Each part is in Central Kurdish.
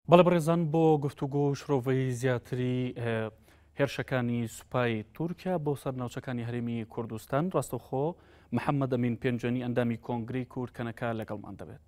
بەڵێ بەڕێزان بۆ گفتوگۆ و شرۆڤەی زیاتری هێرشەکانی سوپای تورکیا بۆ سەر ناوچەکانی هەرێمی کوردستان ڕاستەخۆ محەممەد ئەمین پێنجەنی ئەندامی کۆنگری کورد کەنەکە لەگەڵمان دەبێت.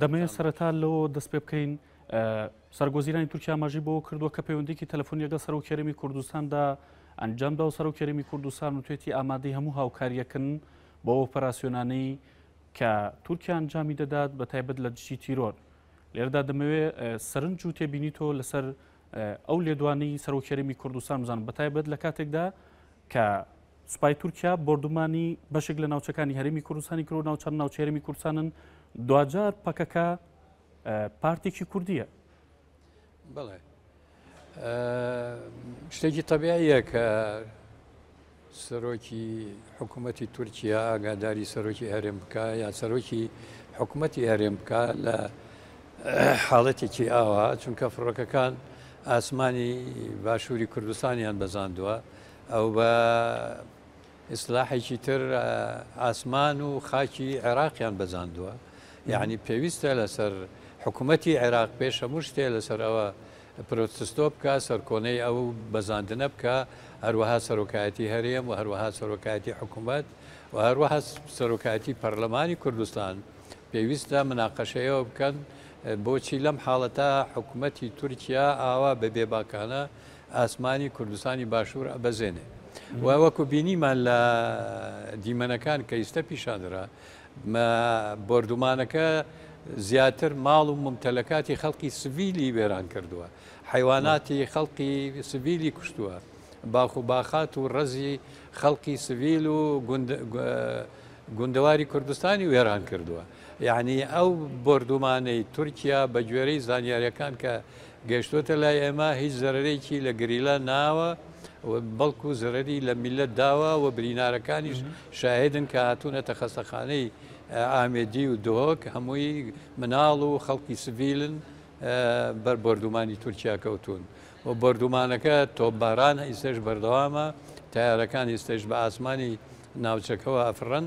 دەمەوێت سەرەتا لەوە دەست پێ بکەین سەرگۆزیرانی تورکیا ماژی بۆ کردووە کە پەیوەندێکی تەلفۆنی لەگەڵ سەرۆک کێرمی کوردستاندا ئەنجامدا و سەرۆک کێرمی کوردستان و توێتی ئامادەی هەموو هاوکاریەکن بۆ ئۆپەراسیۆنانەی کە تورکیا ئەنجامی دەدات بە تایبەت لە دژی تیرۆر لێردا دەمەوێت سەرنج و تێبینی تۆ لەسەر ئەو لێدوانی سەرۆکێرمی کوردستان بزانم بە تایبەت لە کاتێکدا کە سوپای تورکیا بۆردومانی بەشێک لە ناوچەکانی هەرێمی کوردستانی کرد و ناوچەند ناوچە هەرێمی کوردستانن دواجار پەکەکە پارتێکی کوردیە بڵێ شتێکی تەبیاییە کە سەرۆکی حکوومەتتی تورکیا ئاگاداری سەرۆکی هەرێم بکە یا سەرۆکی حکوومەتتی هەرێم بکە لە حاڵەتێکی ئاوا چونکە فڕۆکەکان ئاسمانی باشووری کوردستانیان بەزاندووە ئەو بە ئیسلاحێکی تر ئاسمان و خاکی عێراقیان بەزاندووە یعنی پێویستە لەسەر حکوومەتی عێراق پێش هەموو شتێ لەسەر ئەوە پرۆتستۆ بکە سەرکۆنەی ئەو بەزاندنە بکە هەروەها سەرۆکایەتی هەرێم و هەروەها سەرۆکایەتی حکوومەت و هەروەها سەرۆکایەتی پەرلەمانی کوردستان پێویستە مناقەشەیەوە بکەن بۆچی لەم حاڵەتە حکوومەتی تورکیا ئاوا بە بێباکانە ئاسمانی کوردستانی باشوور ئەبەزێنێ و وەکو بینیمان لە دیمەنەکان کە ئیستا پیشاندرا بردومانەکە زیاتر ماڵ و ممتەلەکاتی خەڵکی سڤیلی وێران کردووە حیواناتی خەڵقی سڤیلی کوشتووە باخ و باخات و ڕەزی خەڵقی سڤیل و گوندەواری کوردستانی وێران کردووە یەعنی ئەو بۆردومانەی تورکیا بە گوێرەی زانیاریەکان کە گەشتۆتە لای ئێمە هیچ زەرەرێکی لە گریلا ناوە بەڵکو زەرەری لە میلەت داوە و برینارەکانیش شاهدن کە هاتوونەتە خەستەخانەی ئامێدی و دۆک هەمووی مناڵ و خەڵکی سڤیلن بەر بردومانی تورکیا کەوتون و بردومانەکە تۆباران ئیسش بەردەوامە تارەکان ئیسش بە ئاسمانی ناوچەکەەوە ئەفرەن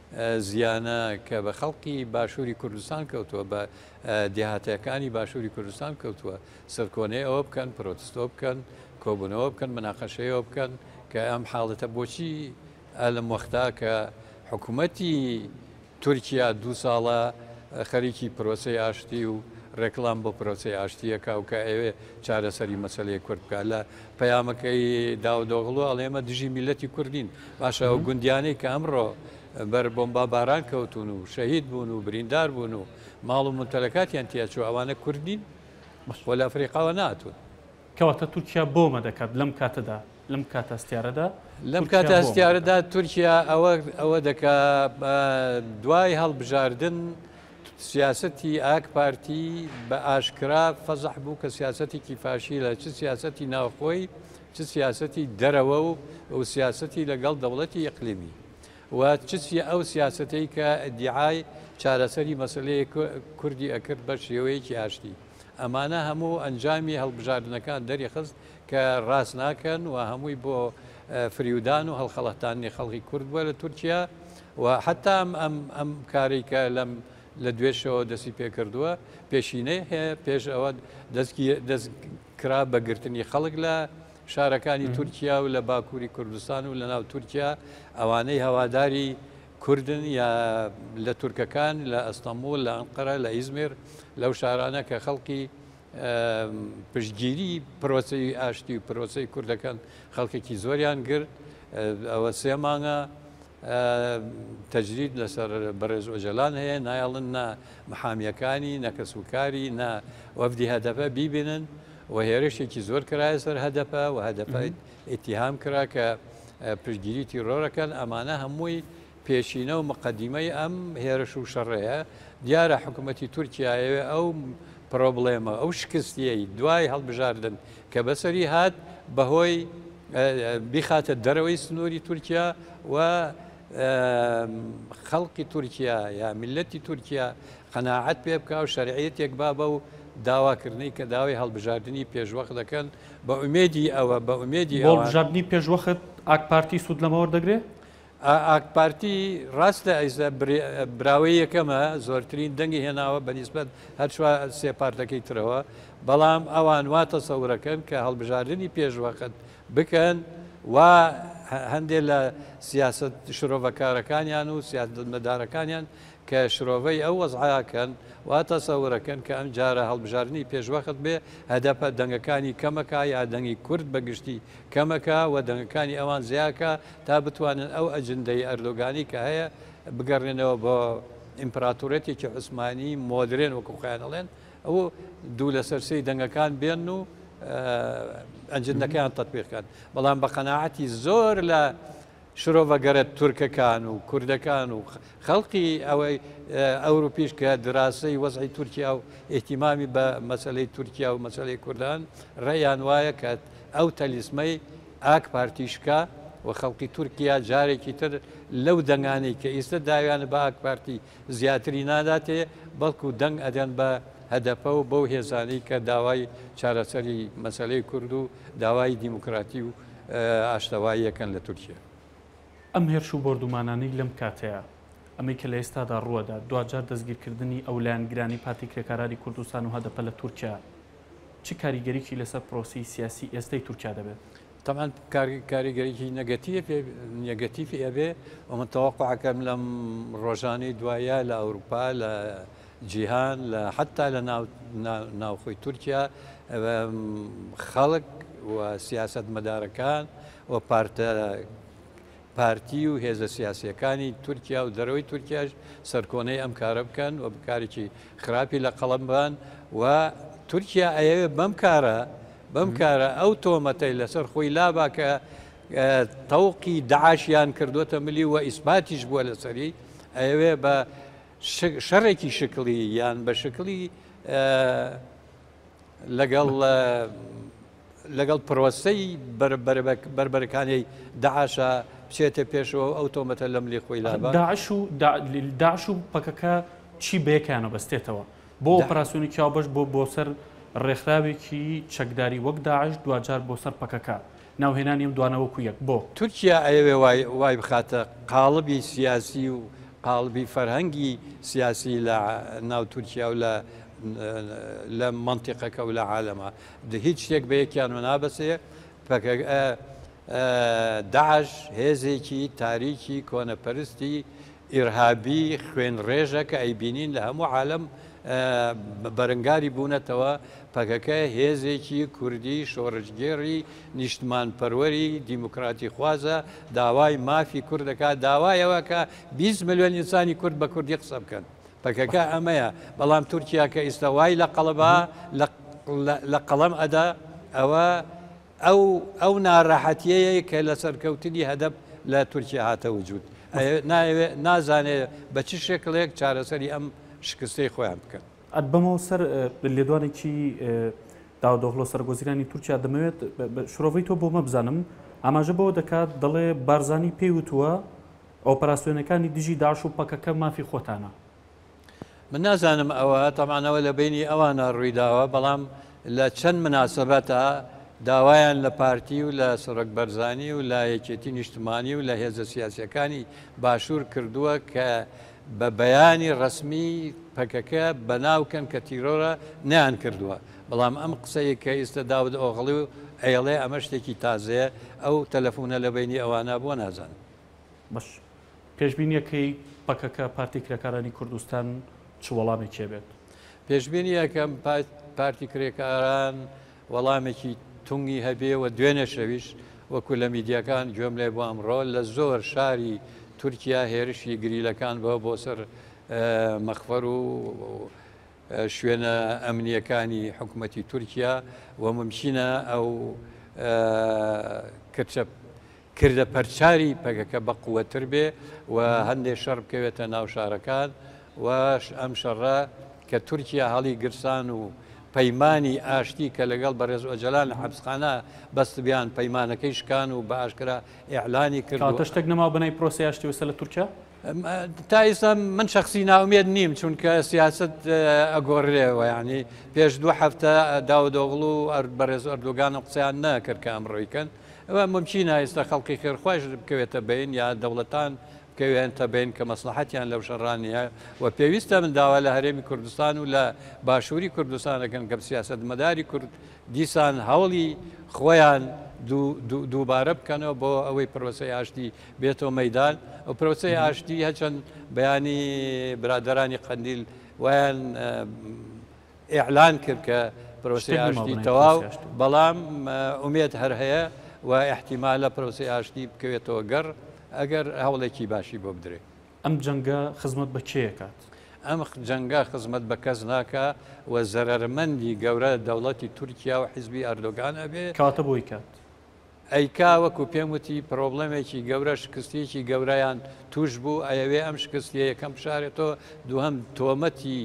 زیانە کە بە خەڵکی باشووری کوردستان کەوتووە بە دێهاتەکانی باشووری کوردستان کەوتووە سەرکۆنەی ئەوە بکەن پرۆتستۆ بکەن کۆبوونەوە بکەن مناقەشەیەوە بکەن کە ئەم حاڵەتە بۆچی ئەلم وەختا کە حکوومەتی تورکیا دوو ساڵە خەریکی پرۆسی ئاشتی و ڕێکلام بۆ پرۆسی ئاشتیەکە و کە ئەوێ چارەسەری مەسلەیە کورد بکە لە پەیامەکەی داودۆغڵو ئەڵێ ئێمە دژی میللەتی کورد نین، باشە ئەو گوندیانەی کە ئەمڕۆ بەر بۆمبا باران کەوتون و شەهید بوون و بریندار بوون و ماڵ و ممتەلەکاتیان تیا چوو ئەوانە کورد نین؟ خۆ لە ئەفریقاوە نەهاتوون. کەواتە تورکیا بۆمە دەکات لەم کاتەدا، لەم کاتە هەستیارەدا لەم کاتە تورکیا بۆمە دەکات. هەستیارەدا تورکیا ئەوە ئەوە دەکا دوای هەڵبژاردن، سیاسەتی ئاکپارتی بە ئاشکرا فەزح بوو کە سیاسەتێکی فاشیلە چ سیاسەتی ناوخۆی چ سیاسەتی دەرەوە و و سیاسەتی لەگەڵ دەوڵەتی ئەقلیمی و چسی ئەو سیاسەتەی کە دیعای چارەسەری مەسلەیە کوردی ئەکرد بە شێوەیەکی ئاشتی ئەمانە هەموو ئەنجامی هەڵبژاردنەکان دەریخست کە ڕاست ناکەن و هەمووی بۆ فریودان و هەڵخەڵەتانی خەڵکی کورد بووە لە تورکیا و حەتا ئەم ئەم ئەم کارەی کە لەم لە دوێشەوە دەستی پێکردووە پێشینەی هەیە پێش ئەوە دەستگی دەست کرا بە گرتنی خەڵک لە شارەکانی تورکیا و لە باکووری کوردستان و لە ناو تورکیا ئەوانەی هەواداری کوردن یا لە تورکەکان لە ئەستەمبول لە ئەنقەرە لە ئیزمێر لەو شارانە کە خەڵکی پشتگیری پرۆسی ئاشتی و پرۆسی کوردەکەن خەڵکێکی زۆریان گرت ئەوە سێ مانگە تەجرید لەسەر بەڕێز ئۆجەلان هەیە نایەڵن نە محامیەکانی نەکەس و کاری نە وەفدی هەدەپە بیبینن و هێرشێکی زۆر کرایە سەر هەدەپە و هەدەپە ئتیهام کرا کە پشگیری تیرۆرەکەن ئەمانە هەمووی پێشینە و مقدمەی ئەم هێرش و شەڕەیە دیارە حکوومەتتی تورکایەوێ ئەو پرۆبلێمە ئەو شکستیەی دوای هەڵبژاردن کە بەسەری هات بەهۆی بیخاتە دەرەوەی سنووری تورکیا و خەڵقی تورکیا یا میلەتی تورکیا قەناعەت پێ بکە و شەرعەتێک با بە و داواکردنی کە داوای هەڵبژاردننی پێشوەخ دەکەن بە ئومێدی ئەوە بە ئومێدی هەڵبژاردننی پێشوەخت ئاکپارتی سوود لەمەوە دەگرێت؟ ئا ئاکپارتی ڕاست لە ئەیسا براوەی یەکەمە زۆرترین دەنگی هێناوە بەنیسبەت هەر چوار سێ پارتەکەی ترەوە بەڵام ئەوان وا تەسەورەکەن کە هەڵبژاردنی پێشوەخت بکەن و هەندێک لە سیاسەت شرۆڤەکارەکانیان و سیاستمەدارەکانیان کە شرۆڤەی ئەو وەزعەکەن وا تەسەورەکەن کە ئەم جارە هەڵبژاردنی پێشوەخت بێ هەدەپە دەنگەکانی کەمەکە یا دەنگی کورد بەگشتی کەمەکە و دەنگەکانی ئەوان زیاکە تا بتوانن ئەو ئەجندەی ئەردۆگانی کە هەیە بگەڕێنەوە بۆ ئیمپراتۆرێتێکی عوسمانی مۆدرێن وەکو خۆیان ئەڵێن ئەو دوو لەسەر سێی دەنگەکان بێن و ئەنجندەکەیان تەتبیقکەن بەڵام بە قەنەعەتی زۆر لە شرۆڤەگەرە تورکەکان و کوردەکان و خەڵقی ئەوەی ئەوروپیش کە دراسی وەزعی تورکیا و ئیحتیمامی بە مەسلەی تورکیا و مەسلەی کوردان ڕێیان وایە کە ئەو تەلیسمەی ئاک پارتیش کا و خەڵکی تورکیا جارێکی تر لەو دەنگانەی کە ئیستە داویانە بە ئاک پارتی زیاتری ناداتێ بەڵکو دەنگ ئەدەن بە هەدەپە و بەو هێزانەی کە داوای چارەسەری مەسەلەی کورد و داوای دیموکراتی و ئاشتەواییەکەن لە تورکیا. ئەم هێرش و بۆردومانانەی لەم کاتەیا ئەمەی کە لە ئێستادا ڕووەدات دواجار دەستگیرکردنی ئەو لایەنگرانی پارتی کرێکاراری کوردستان و هەدەپە لە تورکیا، چ کاریگەریی لەسەر پرۆسەی سیاسی ئێستای تورکیا دەبێت؟ تەبعەن کاریگەریی نێگەتیڤ نێگەتیڤی ئەبێ و من تەوەقوع ئەکەم لەم ڕۆژانەی دوایە لە ئەوروپا لە جیهان لە حەتا لە ناوخۆی تورکیا خەڵک و سیاسەتمەدارەکان و پارتە پارتی و هێزە سیاسییەکانی تورکیا و دەرەوەی تورکیاش سەرکۆنەی ئەم کارە بکەن و کارێکی خراپی لە قەڵەم بان و تورکیا ئەیەوێت بەم کارە بەم کارە ئەو تۆمەتەی لەسەر خۆی لابا کە تەوقی داعاشیان کردوتە ملی و ئیسپاتیش بووە لەسەری ئەوێ بە شەڕێکی شکلی یان بە شکلی لەگەڵ لەگەڵ پرۆسەی بەربەرەکانێی دەعاشە بچێتە پێشەوە ئەو تۆمەتە لە ملی خۆی لابا. داعش و داعش و پەکەکە چی بەیەکیانە بەستێتەوە؟ بۆ ئۆپەراسیۆنی چاوبەش بۆ بۆ سەر ڕێکخراوێکی چەکداری وەک داعش دواجار بۆ سەر پەکەکە ناوهێنانی ئەم دوانە وەکو یەک بۆ؟ تورکیا ئەیەوێ وای بخاتە قاڵبی سیاسی و قاڵبی فەرهەنگی سیاسی لە ناو تورکیا و لە لە مەنتیقەکە و لە عالەما هیچ شتێک بە یەکیانەوە نابەسێ، پەکەکە، داعش، هێزێکی تاریکی کۆنەپەرستی ئیرهابی خوێن ڕێژە کە ئەیبینین لە هەموو عالەم بەرەنگاری بوونەتەوە، پەکەکە هێزێکی کوردی شۆڕشگێڕی نیشتمان پەروەری دیموکراتی خوازە، داوای مافی کورد دەکات، داوای ئەوەکە بیست ملیۆن ئینسانی کورد بە کوردی قسە بکەن. پەکەکە ئەمەیە بەڵام تورکیا کە ئیستا وای لە قەڵەبا لە قەڵەم ئەدا ئەوە ئەو ئەو ناراحەتیەیە کە لە سەرکەوتنی هەدەب لە تورکیا هاتە وجود نازانێ بە چ شێکڵێک چارەسەری ئەم شکستەی خۆیان بکەن ئەت بەمەوە سەر لێدوانێکی داودۆخلۆ سەرگۆزیرانی تورکیا دەمەوێت شرۆڤی تۆ بۆ مەبزانم ئاماژە بەوە دەکات دەڵێ بارزانی پێی وتووە ئۆپەراسیۆنەکانی دژی داعش و پەکەکە مافی خۆتانە. من نازانم ئەوە تەبعەن ئەوە لە بەینی ئەوانە ڕوویداوە بەڵام لە چەند مناسەبەتا داوایان لە پارتی و لە سەرۆک بەرزانی و لە یەکێتی نیشتمانی و لە هێزە سیاسیەکانی باشور کردووە کە بە بەیانی ڕەسمی پەکەکە بەناو کەن کە تیرۆرە نەیان کردووە بەڵام ئەم قسەیە کە ئیستە داود ئۆغڵو ئەیڵێ ئەمە شتێکی تازەیە ئەو تەلەفونە لە بەینی ئەوانە بۆ نازانن. بەش پێشبینیەکەی پەکەکە پارتی کرێکارانی کوردستان چ وەڵامێکێ بێت پێشبینیەکەم پارتی کرێکاران وەڵامێکی تونگی هەبێ و دوێنێ شەویش وەکو لە میدیەکان گوێم لێ بۆ ئەمڕۆ لە زۆر شاری تورکیا هێرشی گریلەکان بە بۆ سەر مەخفەر و شوێنە ئەمنیەکانی حکوومەتتی تورکیا و ممچینە ئەو کچە کردە پەرچاری پەکەکە بەقوەتر بێ و هەندێ شەڕ بکەوێتە ناو شارەکان و ئەم شەڕە کە تورکیا هەڵی گرسان و پەیمانی ئاشتی کە لەگەڵ بەڕێز ئۆجەلان لە حەبسخانە بەستبیان پەیمانەکەی شکان و بە ئاشکرا ئیعلانی کرد کەواتە شتێک نەماوە بەناوی پرۆسەی ئاشتی وسە لە تورکیا؟ تا ئیستا من شخصی ناومێد نیم چونکە سیاست ئەگۆڕرێ وەیانی پێش دوو هەفتە داودۆغڵ و بەڕێز ئەردۆگان و قسەیان نەکرد کە ئەمڕۆیکەن ئەوە مومکینە ئێستا خەڵکی خێرخوایش بکەوێتە بەین یا دەوڵەتان بکەوێنتە بەین کە مەسلەحەتیان لەو شەڕا نییە و پێویستە من داوا لە هەرێمی کوردستان و لە باشووری کوردستان دەکەم کە سیاسەتمەداری کورد دیسان هەوڵی خۆیان دووبارە بکەنەوە بۆ ئەوەی پرۆسەی ئاشتی بێتەوە مەدان و پرۆسەی ئاشتی هەچەند بەیانی برادرانی قەندیل وایان ئیعلان کرد کە پرۆسەی ئاشتی تەواو بەڵام ئومێد هەر هەیە و احتیمالە پرۆسی ئاشتی بکەوێتەوە گەڕ ئەگەر هەوڵێکی باشی بۆ بدرێت ئەم جەنگە خزمەت بە کێکات ئەم جەنگە خزمەت بە کەس ناکە و زەرمەندی گەورە دەوڵەتی تورکیا و حیزبی ئەردۆگان ئەبێ کاتە بۆی کات ئەی کا وەکو پێم وتی پرۆبڵێمێکی گەورە شکستیەکی گەورەیان توش بوو ئەیەوێ ئەم شکستیە یەکەم بشارێتەوە دووهم تۆمەتی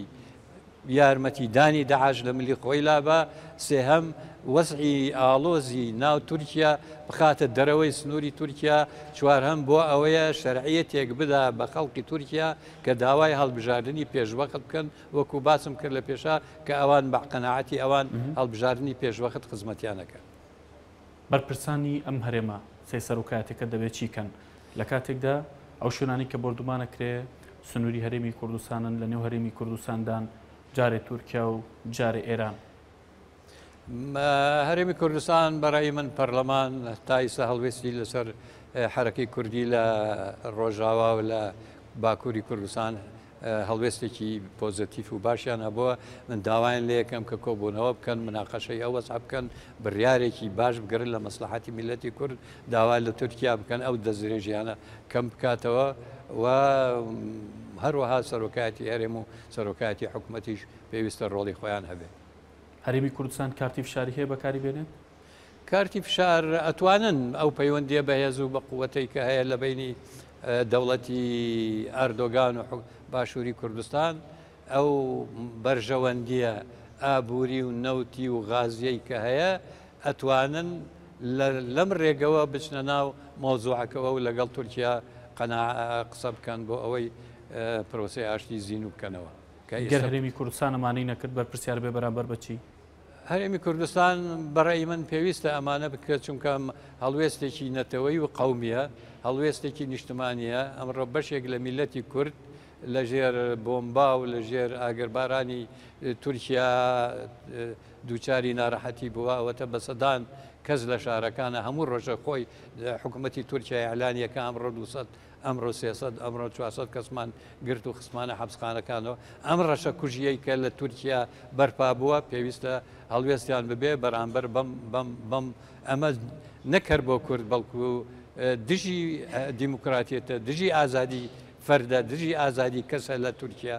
یارمەتی دانی داعش لە ملی خۆی لابە سێهەم وەزعی ئاڵۆزی ناو تورکیا بخاتە دەرەوەی سنووری تورکیا چوارهەم بۆ ئەوەیە شەرعیە تێک بدا بە خەڵکی تورکیا کە داوای هەڵبژاردننی پێشوەخت بکەن وەکو باسم کرد لە پێشا کە ئەوان بەقەنەعەتی ئەوان هەڵبژاردننی پێشوەخت خزمەتیانەکە بەرپرسانی ئەم هەرێمە سێ سەرۆکایەتیەکە دەبێ چی کەن لە کاتێکدا ئەو شوێنانی کە بۆردومان ئەکرێ سنووری هەرێمی کوردستانن لە نێو هەرێمی کوردستاندان جارێ تورکیا و جارێ ئێران هەرێمی کوردستان بەڕای من پەرلەمان تایسە هەڵوێستی لەسەر حرەکەی کوردی لە ڕۆژاوا و لە باکووری کوردستان هەڵوێستێکی پۆزەتیف و باشیان هەبووە، من داوایان لێکەم کە کۆبوونەوە بکەن، مناقەشەی ئەو وەزعە بکەن، بڕیارێکی باش بگرن لە مەسڵەحەتی میللەتی کورد، داوا لە تورکیا بکەن ئەو دەستدرێژیانە کەم بکاتەوە و هەروەها سەرۆکایەتی هەرێم و سەرۆکایەتی حکومەتیش پێویستە ڕۆڵی خۆیان هەبێت. هەرێمی کوردستان کارتی فشاری هەیە بەکاری بێنێت؟ کارتی فشار ئەتوانن ئەو پەیوەندیە بەهێز و بە قووەتەی کە هەیە لە بینی دەوڵەتی ئاردۆگان و باشووری کوردستان ئەو بەرژەوەندیە ئابووری و نەوتی و غازیەی کە هەیە ئەتوانن لەم ڕێگەوە بچنە ناو مۆزوعەکەەوە و لەگەڵ تورکیا قەنا قسە بکەن بۆ ئەوەی پرۆسی ئاشتی زین و بکەنەوە گەر هەرێمی کوردستانەمانەی نەکرد بەرپرسیار بێ بەرامبەر بەچی هەرێمی کوردستان بەڕێی من پێویستە ئەمانە بکرێت چونکە هەڵوێستێکی نەتەوەی و قومیە هەڵوێستێکی نیشتمانیە ئەمڕۆ بەشێک لە میلەتی کورد لە ژێر بۆمبا و لە ژێر ئاگربارانی تورکیا دووچاری ناراحەتی بووە ئەوەتە بە سەدان کەس لە شارەکانە هەموو ڕۆژە خۆی حکوومەتتی تورکیا ئەلانیەکە ئەمڕۆ 200 ئەمڕۆ سێ سەد، ئەمڕۆ چوار سەد کەسمان گرت و خستمانە حەپسخانەکانەوە. ئەم ڕەشە کوژییەی کە لە تورکیا بەرپا بووە، پێویستە هەڵوێستیان ببێ بەرامبەر بەم. ئەمە نەک هەر بۆ کورد، بەڵکو دژی دیموکراتیەتە، دژی ئازادی فەردە، دژی ئازادی کەسە لە تورکیا.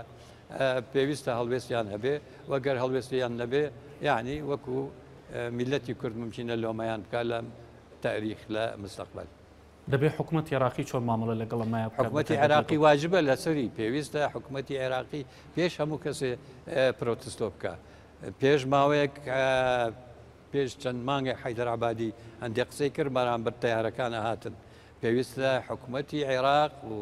پێویستە هەڵوێستیان هەبێ و گەر هەڵوێستیان نەبێ، یەعنی وەکو میللەتی کورد مومکینە لۆمەیان بکا لە تاریخ لە مستەقبەل. دەبێ حکومەتی عێراقی چۆن مامەڵە لەگەڵ ئەم مایە بکات؟ حکومەتی عێراقی واجبە لەسەری پێویستە حکومەتی عێراقی پێش هەموو کەسێ پرۆتستۆ بکە پێش ماوەیەک پێش چەند مانگە حیدرعبادی هەندێک قسەی کرد بەرامبەر تیارەکانە هاتن پێویستە حکومەتی عێراق و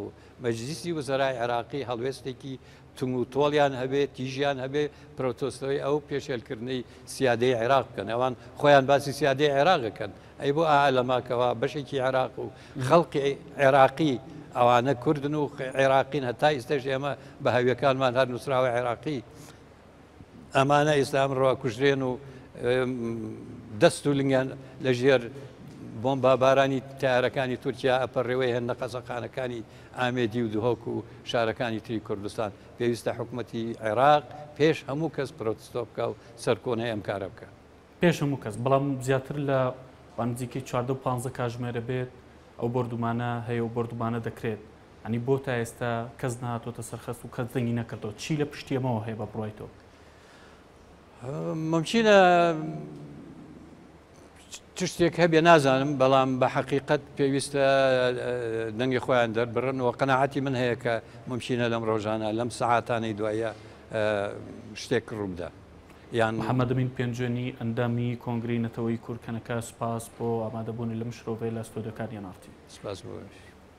مەجلیسی وزرای عێراقی هەڵوێستێکی تون و تۆڵیان هەبێ، تیژیان هەبێ، پرۆتۆستەوەی ئەو پێشێلکردنەی سیادەی عێراق بکەن. ئەوان خۆیان باسی سیادەی عێراق ئەکەن. ئەی بۆ ئائا لەما کەوا بەشێکی عێراق و خەڵقی عێراقی، ئەوانە کوردن و عێراقین، هەتا ئیستەش ئێمە بە هەویەکانمان هەر نووسراوە عێراقی، ئەمانە ئیستا ئەمڕۆ کوژرێن و دەست و لنگیان لە ژێر بۆمبا بارانی تارەکانی تورکیا ئەپەڕێوەی هەن نەقەزەقانەکانی ئامێدی و دهۆک و شارەکانی تری کوردستان پێویستە حکوومەتی عێراق پێش هەموو کەس پرۆتستۆ بکە و سەرکۆنەی ئەم کارە بکە پێش هەموو کەس بەڵام زیاتر لە بانزیکەی چواردە و پانزە کاژمێرە بێت ئەو بردومانە هەیە و بردومانە دەکرێت یانی بۆ تا ئێستا کەس نەهاتۆتە سەر خەست و کەس دەنگی نەکردەوە چی لە پشتی ئەمەوە هەیە بە بڕوای تۆ؟ ممچینە تشتێک هەبێ نازانم بەڵام بە حەقیقت پێویستە دەنگی خۆیان دەربڕن و قەنەعاتی من هەیە کە ممچینە لەم ڕۆژانە لەم سەعاتانەی دوایە شتێک ڕووبدا یان حەمەدەمین پێنجێنی ئەندامی کۆنگری نەتەوەی کورکەنەکە سپاس بۆ ئامادەبوونی لەم شرۆڤەیە لە ستۆدەکان یانارتی سپاس بۆش.